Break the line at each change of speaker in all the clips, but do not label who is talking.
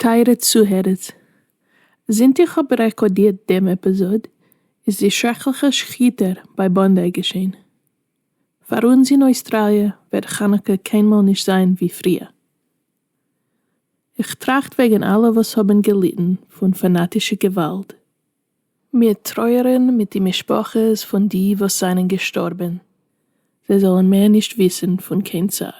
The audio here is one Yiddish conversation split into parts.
טייערע צוהערערס, זינט איך האב רעקארדירט דעם עפיזאד איז די שרעקליכע שחיטה ביי באנדיי געשען. פאר אונז אין אויסטראליע וועט חנוכה קיינמאל נישט זיין ווי פריער. איך טראכט וועגן אלע וואס האבן געליטן פון פאנאטישע געוואלד. מיר טרויערן מיט די משפחות פון די וואס זענען געשטארבן, זיי זאלן מער נישט וויסן פון קיין צער.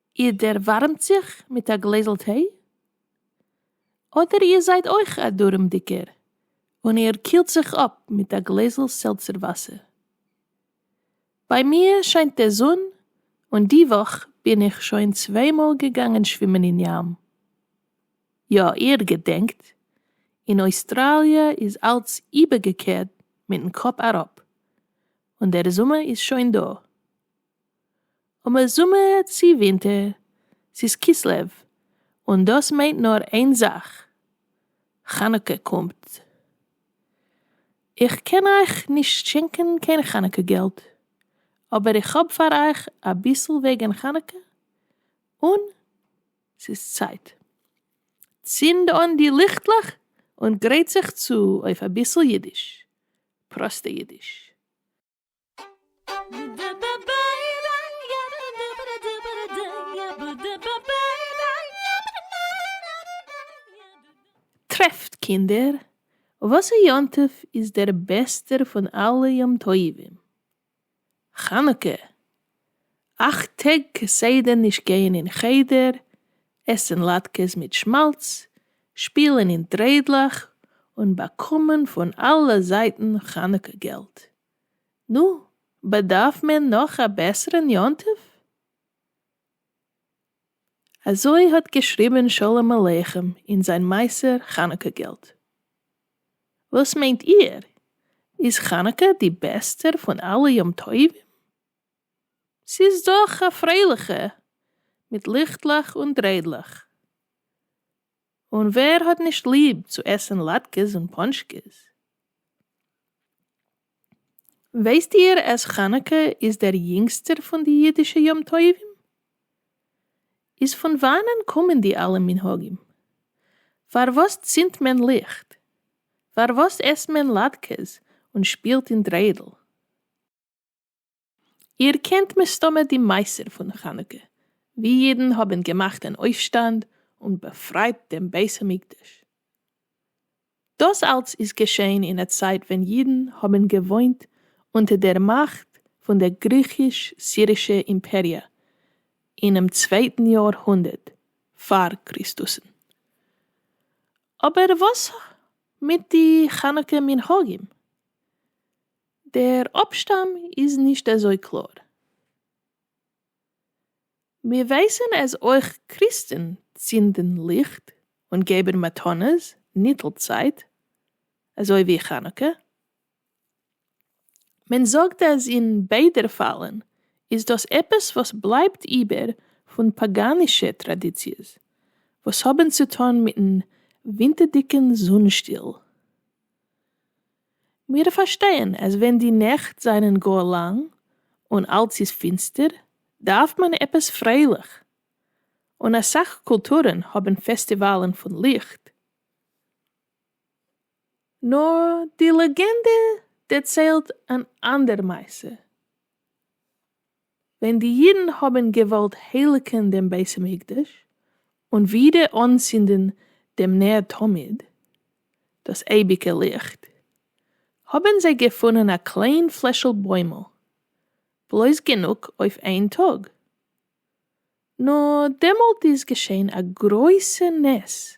איר דערווארעמט זיך מיט א גלעזל טיי? אדער איר זייט אויך א דארעמדיגער און איר קילט זיך אפ מיט א גלעזל סעלצער וואסער? ביי מיר שיינט דער זון און די וואך בין איך שוין צוויי מאל געגאנגען שווימען אין ים. יא, איר געדענקט, אין אויסטראליע איז אלץ איבערגעקערט מיטן קאפ אראפ, און דער זומער איז שוין דא. אמאל זומער צו ווינטער, ס'איז כסלו, און דאס מיינט נאר איין זאך, חנוכה קומט. איך קען אייך נישט שענקען קיין חנוכה געלט, אבער איך האב פאר אייך אביסל וועגן חנוכה, און ס'איז צייט. צינד אן די ליכטלעך און גרייט זיך צו אויף אביסל אידיש, פראסטע אידיש. טרעפט קינדער, וואסער יום טוב איז דער בעסטער פון אלע יום טובים? חנוכה! אַכט טעג כסדר נישט גײען אין חדר, עסן לאַטקעס מיט שמאַלץ, שפּילן אין טרעדלעך און באַקומען פֿון אַלע זײַטן חנוכּה געלט. נו, באַדאַרף מען נאָך אַ בעסערן יום-טובֿ? אַזױ האָט געשריבן שלום-עליכם אין זײַן מעשׂה חנוכּה געלט. װאָס מײנט איר, איז חנוכּה די בעסטער פֿון אַלע יום-טובֿים? ס'איז דאך א פרייליכע, מיט ליכטלעך און דריידלעך. און ווער האט נישט ליב צו עסן לאטקעס און פאנטשקעס? ווייסט איר אז חנוכה איז דער יונגסטער פון די אידישע יום טובים? איז פון וואנען קומען די אלע מנהגים? פארוואס צינדט מען ליכט? פארוואס עסט מען לאטקעס און שפילט אין דריידל? איר קענט מסתמא די מעשר פון חנוכה ווי אידן האבן געמאכט אן אויפשטאנד און באפרייט דעם בית המקדש. דאס אלץ איז געשען אין א צייט ווען אידן האבן געוואוינט אונטער דער מאכט פון דער גריכיש-סירישע אימפעריע אינעם צווייטן יאר הונדערט פאר קריסטוסן. אבער וואס מיט די חנוכה מנהגים? דער אפשטאם איז נישט אזוי קלאר. מיר ווייסן אז אויך קריסטן צינדן ליכט און געבן מתנות ניטל צייט אזוי ווי חנוכה. מען זאגט אז אין ביידע פאלן איז דאס עפעס וואס בלייבט איבער פון פאגאנישע טראדיציעס וואס האבן צוטון מיטן ווינטערדיגן זון שטיל. מיר פארשטייען אז ווען די נעכט זענען גאר לאנג און אלץ איז פינסטער דארף מען עפעס פרייליך, און אסאך קולטורען האבן פעסטיוואלן פון ליכט, נאר די לעגענדע דערציילט אן אנדער מעשה. ווען די אידן האבן געוואלט הייליגן דעם בית המקדש און ווידער אנצינדן דעם נר תמיד, דאס אייביגע ליכט, האבן זיי געפונען א קליין פלעשל בוימל, בלויז גענוג אויף איין טאג. נו, דעמאלט איז געשען א גרויסע נס.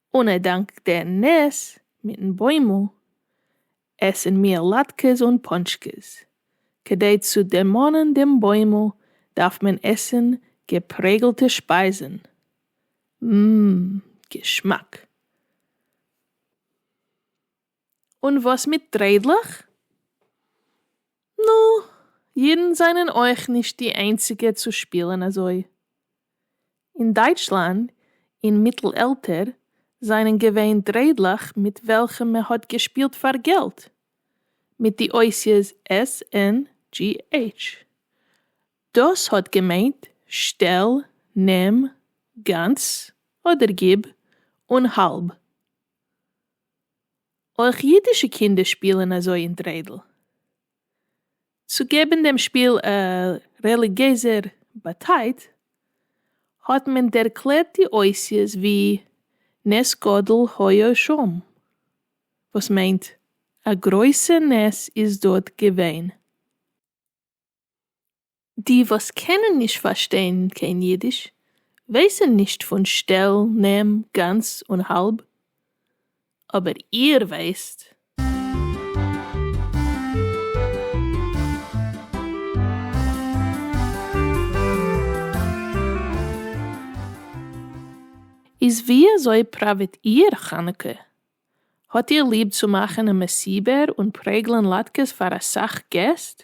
און ער דאנקט דער נס מיטן בוימל, עסן מיר לאטקעס און פאנטשקעס. כדי צו דערמאנען דעם בוימל דארף מען עסן געפרעגלטע שפייזן. מ מ געשמאק. און וואס מיט דריידלעך? נו, אידן זענען אויך נישט די איינציגע צו שפילן אזוי. אין דייטשלאנד אין מיטל עלטער זענען געווען דריידלעך מיט וועלכע מען האט געשפילט פאר געלט, מיט די אותיות SNGH. דאס האט געמיינט שטעל, נעם, גאנץ, אדער גיב אן האלב. אויך אידישע קינדער שפילען אזוי אין דריידל. צו געבען דעם שפיל א רעליגעזער באטייט, האט מען ערקלערט די אותיות ווי נס גדול היה שם, וואס מיינט א גרויסע נס איז דארט געווען. די וואס קענען נישט פארשטיין קיין אידיש ווייסען נישט פון שטעל נעם גאנץ און האלב, אבער איר ווייסט. איז ווי אזוי פראוועט איר חנוכה? האט איר ליב צו מאכען א מסיבה און פרעגלען לאטקעס פאר אסאך געסט?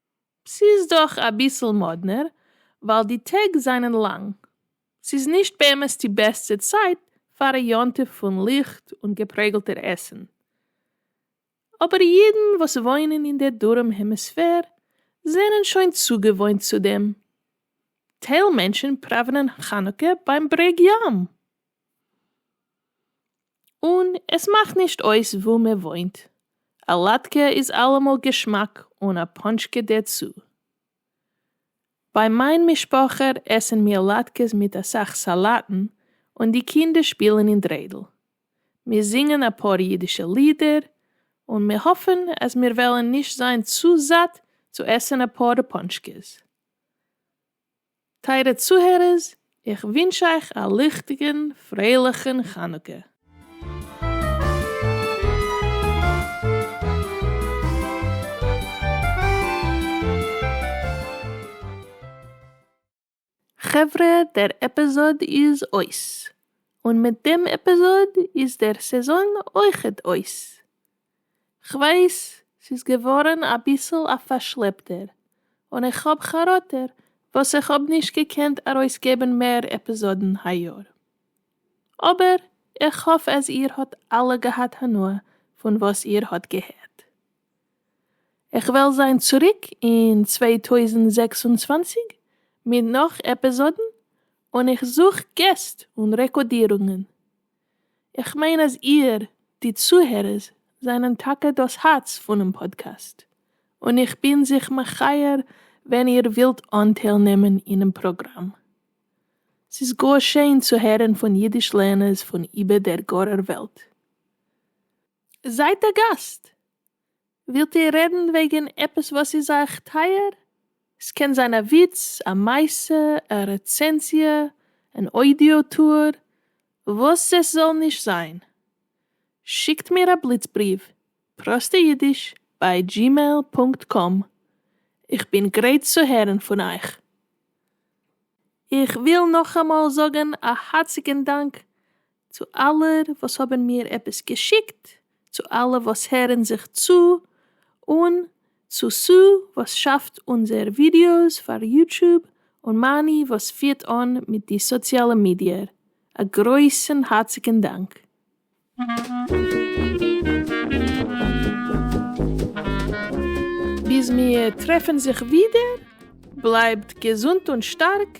ס'איז דאך אביסל מאדנער ווייל די טעג זענען לאנג, ס'איז נישט באמת די בעסטע צייט פאר א יום טוב פון ליכט און געפרעגלטער עסן, אבער אידן וואס וואוינען אין דער דרום העמיספער זענען שוין צוגעוואוינט צו דעם, טייל מענטשן פראווענען חנוכה ביים ברעג ים. און עס מאכט נישט אויס וואו מען וואוינט, א לאטקע איז אלעמאל געשמאק און א פאנטשקע דערצו. ביי מיין משפחה עסן מיר לאטקעס מיט אסאך סאלאטן און די קינדער שפילן אין דריידל. מיר זינגען אפאר אידישע לידער און מיר האפן אז מיר וועלן נישט זיין צו זאט צו עסן אפאר פאנטשקעס. טייערע צוהערערס, איך ווינטש אייך א ליכטיגן פרייליכן חנוכה. חברה דער עפיזאד איז אויס, און מיט דעם עפיזאד איז דער סעזאן אויכעט אויס, כ'ווייס ס'איז געווארן אביסל א פארשלעפטער, און איך האב חרטה וואס איך האב נישט געקענט ארויסגעבן מער עפיזאדן היי יאר. אבער איך האף אז איר האט אלע געהאט הנאה פון וואס איר האט געהערט. איך וועל זיין צוריק אין צוויי טויזנט זעקס און צוואַנציק מיט נאך עפיזאדן, און איך זוך געסט און רעקאדירונגן. איך מיין אז איר, די צוהערערס, זענען טאקע דאס הארץ פונעם פאדקעסט, און איך בין זיך מחייר ווען איר ווילט אנטייל נעמען אינעם פראגראם. ס'איז גאר שיין צו הערן פון אידיש לערנערס פון איבער דער גארער וועלט. זייט א גאסט! ווילט איר רעדן וועגן עפעס וואס איז אייך טייער? ס'קען זיין א וויץ, א מעשה, א רעצענזיע, אן אודיאו טור, וואס עס זאל נישט זיין. שיקט מיר א בליץ בריוו, פראסטע אידיש ביי דזשימעיל פונקט קאם. איך בין גרייט צו הערן פון אייך. איך וויל נאכאמאל זאגן א הארציגן דאנק צו אלע וואס האבן מיר עפעס געשיקט, צו אלע וואס הערן זיך צו, און צו סו וואס שאפט אונזער ווידיאוס פאר יוטוב, און מאני וואס פירט אן מיט די סאציאלע מידיער, א גרויסן הארציגן דאנק. ביז מיר טרעפן זיך ווידער, בלייבט געזונט און שטארק.